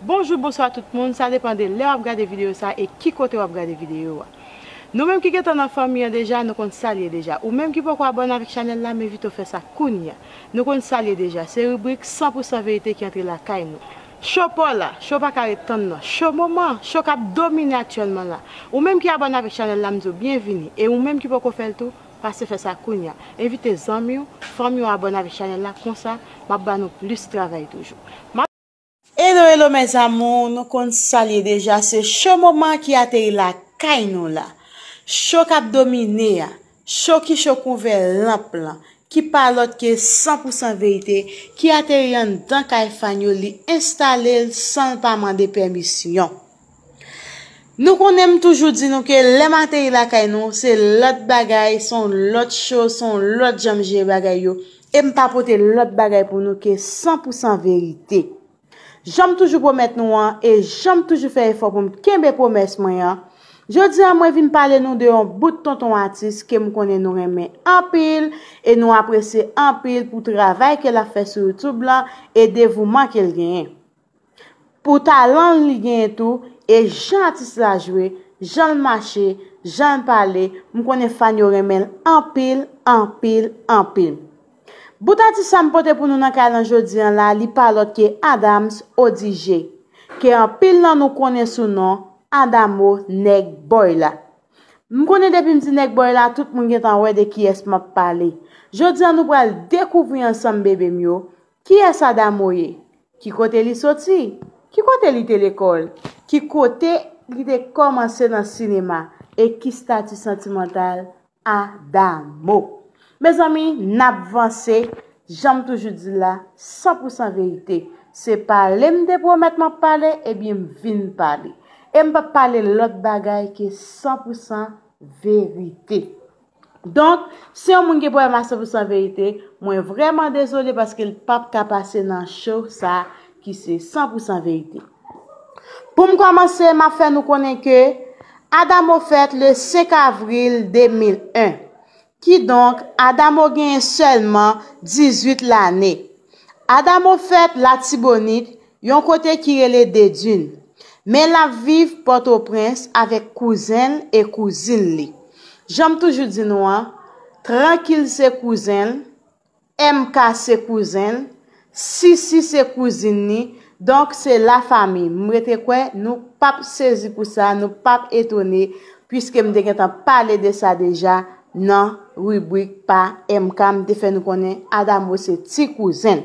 Bonjou bonswa tout moun sa depan de lè wap gade video sa e ki kote wap gade video a nou menm ki gentan nan fanmi an deja nou konn sal ye deja ou menm ki poko abòne avèk chanèl la m envite w fè sa kounya nou konn sal ye deja se ribrik 100 pou 100 verite ki antre lakay nou. Show paw la show pa ka ret tann nan show moman show kap domine aktyèlman la ou menm ki abòne avèk chanèl la m di w byenvini e ou menm ki poko fè l tou pase fè sa kounya envite zanmi w fanmi w abòne avèk chanèl la konsa map ba nou plis travay toujou. Hello hello mes amours nou konn sal ye deja se show moman ki ateri lakay nou la show kap domine a show ki show kouve lanp lan ki pa lot ke 100 pou 100 verite ki ateri anndan kay fan yo li instalel sanl pa mande pèmisyon. Nou konnen m toujou di nou ke lè m ateri lakay nou, se lòt bagay, se yon lòt cho, se yon lòt jan m jere bagay yo, e m pa pote lòt bagay pou nou ke san pou san verite. Jan m toujou pwomèt nou an, e jan m toujou fè efò pou m kenbe pwomès mwen an, jodi a mwen vin pale nou de yon bout tonton atis ke m konnen nou renmen anpil, e nou apresye anpil pou travay ke l ap fè sou youtube lan, e devouman ke l genyen. Pou talan li genyen tou, e jan atis la jwe, jan l mache, jan l pale, m konnen fan yo renmen l anpil, anpil, anpil. Bout atis sa m pote pou nou nan kay lan jodi an la li pa lòt ke Adams Odigé, ke anpil nan nou konnen sou non Adamo Nèg Bòy la. M konnen depi m di Nèg Bòy la tout moun gentan wè de kiyès m ap pale. Jodi an nou pral dekouvri ansanm bebe m yo, Kiyès Adamo ye? Ki kote li soti? Ki kote li te lekòl? Ki kote li te kòmanse nan sinema? E ki stati santimantal Adamo? Mezanmi, n ap vanse, jan m toujou di l la, san pou san verite. Se pale m te pwomèt m ap pale, ebyen m vin pale. E m p ap pale lòt bagay ke san pou san verite. Donk, si yon moun gen pwoblèm a 100 pou 100 verite, mwen vrèman dezole paske l pap ka pase nan cho sa ki se 100 pou 100 verite. Pou m kòmanse, m ap fè nou konnen ke Adamo fèt le 5 avril 2001. Kidonk, Adamo genyen sèlman 18 lane. Adamo fèt Latibonit, yon kote ki rele Dedun, men l ap viv Pòtoprens avèk kouzen l e kouzin li. Jan m toujou di nou an, Trankil se kouzen l, MK se kouzen l, Sisi se kouzin ni, donk se la famille. M rete kwè nou p ap sezi pou sa, nou p ap etone, puiske m te gen tan pale de sa deja nan ribrik pa MK, m te fè nou konnen Adamo se ti kouzen l.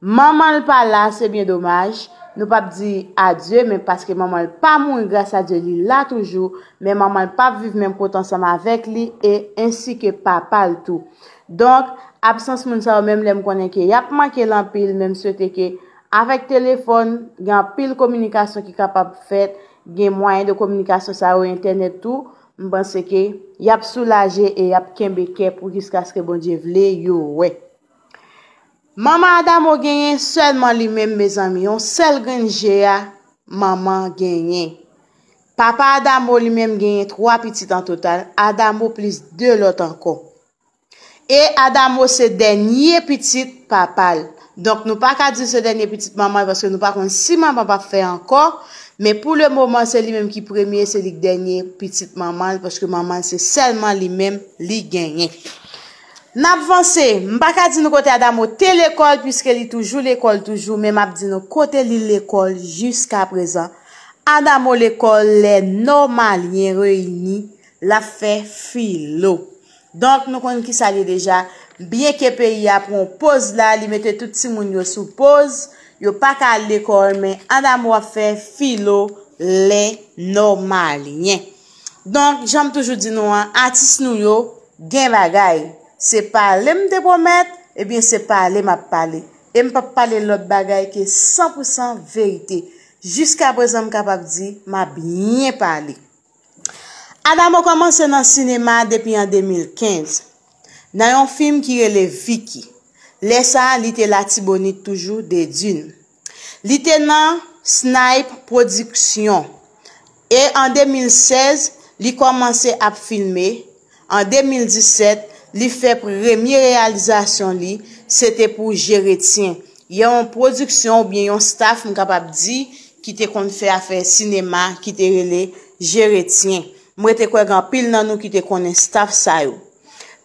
Manman l pa la se byen domaj, nou pap di adye men paske manman l pa mouri gras a Dye li la toujou men manman l pap viv menm kote ansanm avèk li e ensi ke papa l tou. Donk, absans moun sa yo menm lè m konnen ke y ap manke l anpil men m swete ke avèk telefòn gen anpil kominikasyon ki kapab fèt, gen mwayen de kominikasyon sa yo entènèt tou, m panse ke y ap soulaje e y ap kenbe kè pou jiskaske Bondye vle yo wè. Manman Adamo genyen sèlman li menm mezanmi yon sèl grenn je a manman genyen. Papa Adamo li menm genyen 3 pitit an total, Adamo plis 2 lòt ankò. E Adamo se dènye pitit papa l. Donk nou pa ka di se dènye pitit manman l paske nou pa konn si manman pa fè ankò, men pou le moman se li menm ki premye, se li ki dènye pitit manman l paske manman l se sèlman li menm li genyen. N ap vanse. M pa ka di nou kote Adamo te lekòl piske li toujou lekòl toujou men m ap di nou kote li lekòl jiskaprezan. Adamo lekòl lè Nòmalyen reyini l ap fè filo. Donk nou konn ki sa l ye deja. Byenke peyi a pran yon poz la, li mete tout timoun yo sou poz, yo pa ka al lekòl men Adamo ap fè filo lè Nòmalyen. Donk janm toujou di nou an atis nou yo gen bagay se pale m te pwomèt ebyen se pale m ap pale e m pap pale lòt bagay ke san pou san verite jiska prezan m kapab di m ap byen pale. Adamo kòmanse nan sinema depi an 2015 nan yon fim ki rele Vicky lè sa li te latibonit toujou Dedune. Li te nan Snipe Production e an 2016 li kòmanse ap filme, an 2017 li fè premye reyalizasyon li se te pou Jeretyen, yon pwodiksyon oubyen yon staf m kapab di ki te konn fè afè sinema ki te rele Jeretyen. M rete kwè gen anpil nan nou ki te konnen staf sa yo.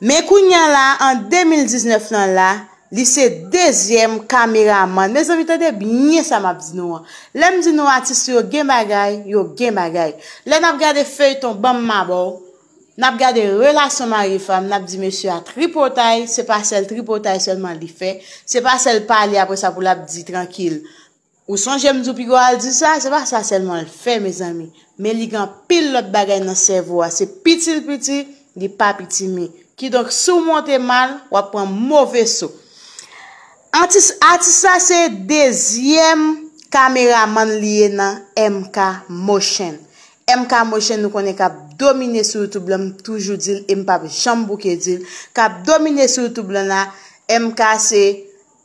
Men kounya la an 2019 lan la, li se dezyèm kameramann. Mezanmi tande byen sa map di nou an. Lè m di nou atis yo gen bagay, yo gen bagay. Lè nap gade feyton banm m abòw, nap gade relasyon mari fanm, nap di mesye a tripotay, se pa sèl tripotay sèlman li fè, se pa sèl pale apresa pou lap di trankil. Ou sonje m di w piga w al di sa, se pa sa sèlman l fè mezanmi, men li gen anpil lòt bagay nan sèvo a, se piti l piti, li pa pitimi. Kidonk si w monte mal, w ap pran move so. Atis atis sa se dezyèm kameramann li ye nan MK motion. MK motion nou konnen k ap domine sou youtube lan, m toujou di l e m p ap janm bouke di l, k ap domine sou youtube lan la, MK se.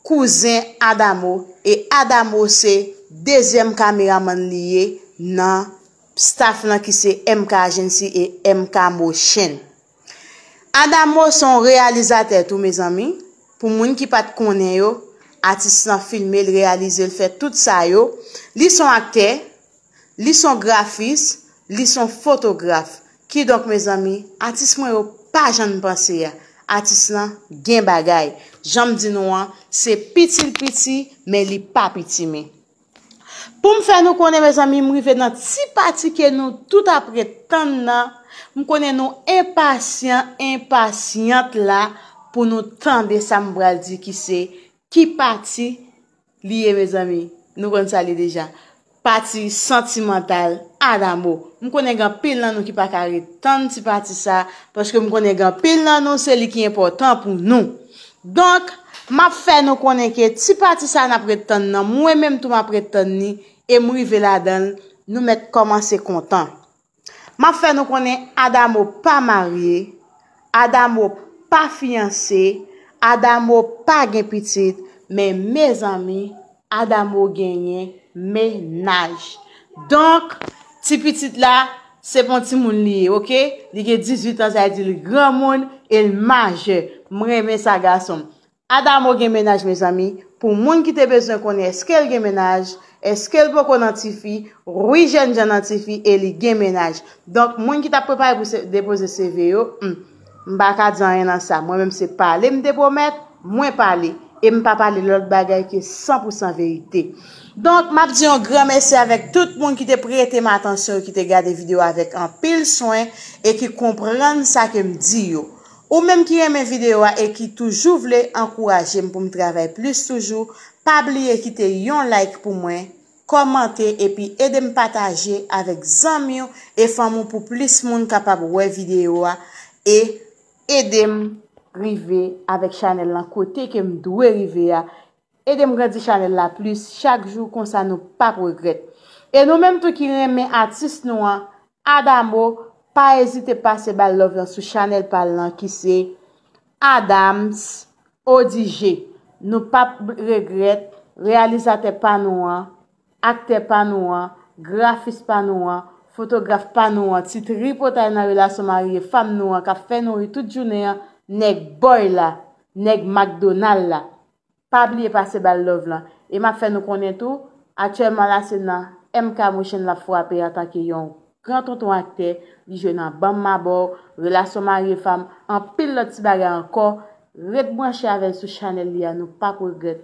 kouzen Adamo e Adamo se dezyèm kameramann li ye nan staff lan ki se MK Agency e MK Motion. Adamo se yon reyalizatè tou mezanmi, pou moun ki pat konnen yo, atis lan filme, l reyalize, l fè tout sa yo, li se yon aktè, Li son grafis, li son fotograf. Kidonk mezanmi, atis mwen yo pa jan n panse a. Atis lan gen bagay. Jan m di nou an, se piti l piti, men li pa pitimi. Pou m fè nou konnen mezanmi, m rive nan ti pati ke nou tout ap ret tann nan, m konnen nou enpasyan, enpasyant la pou nou tande sa m pral di ki se, ki pati Li ye mezanmi nou konn sa li deja pati santimantal adamo m konnen gen anpil nan nou ki paka ret tann ti pati sa paske m konnen gen anpil nan nou se li ki enpòtan pou nou donk map fè nou konnen ke ti pati sa nap ret tann nan mwen menm tou map ret tann ni e m rive ladanl nou mèt kòmanse kontan. Map fè nou konnen Adamo pa marye, Adamo pa fiyanse, Adamo pa gen pitit, men mezanmi Adamo genyen mennaj. Donk ti pitit la se pou yon timoun li ye ok, li gen 18 ans sa vle di li granmoun e li majè. M renmen sa gasonm. Adamo gen mennaj mezanmi pou moun ki te bezwen konnen eskel gen mennaj eskel poko nan tifi wi jènjan nan tifi e li gen mennaj donk moun ki tap prepare pou depoze CV yo humm mpaka di anyen nan sa mwen menm se pale mte pwomèt mwen pale e mpa pale lòt bagay ke san pou san verite donk map di yon gran mèsi avèk tout moun ki te pretem atansyon yo ki te gade video avèk anpil swen e ki konprann sa kem di yo Ou menm ki renmen video a e ki toujou vle ankourajem poum travay plis toujou pa bliye kite yon like pou mwen, kòmante epi edem pataje avèk zanmiw e fanmiw pou plis moun kapab wè video a e edem rive avèk chanèl lan kote kem dwe rive a Edem grandi chanel la plis chak jou konsa nou pap regrèt e nou menm tou ki renmen atis nou an Adamo pa ezite pase bal love lan sou chanel pal lan ki se Adams Odigé nou pap regrèt reyalizatè pa nou an aktè pa nou an, grafis pa nou an, fotograf pa nou an, ti tripotay nan relasyon mari e fam nou an k ap fè nou ri tout jounen an, nèg Bòy la, nèg Makdonal la. Pa bliye pase ba l love lan. E m ap fè nou konnen tou, aktyèlman la se nan MK Motion l ap fwape antanke yon gran tonton aktè, li jwe nan Ban m ma ba w, Relasyon mari e fam, anpil lòt ti bagay ankò, ret branche avè l sou chanèl li a nou p ap regrèt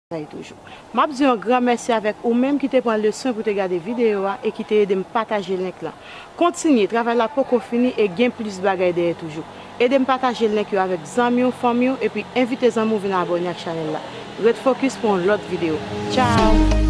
Map di yon gran mèsi avèk ou menm ki te pran le swen pou te gade video a e ki te edem pataje link lan. Kontinye, travay la poko fini e gen plis bagay dèyè toujou. Edem pataje link yo avèk zanmiw, fanmiw epi envite zanmiw vin abòne ak chanèl la. Ret focus pou yon lòt video. Ciao!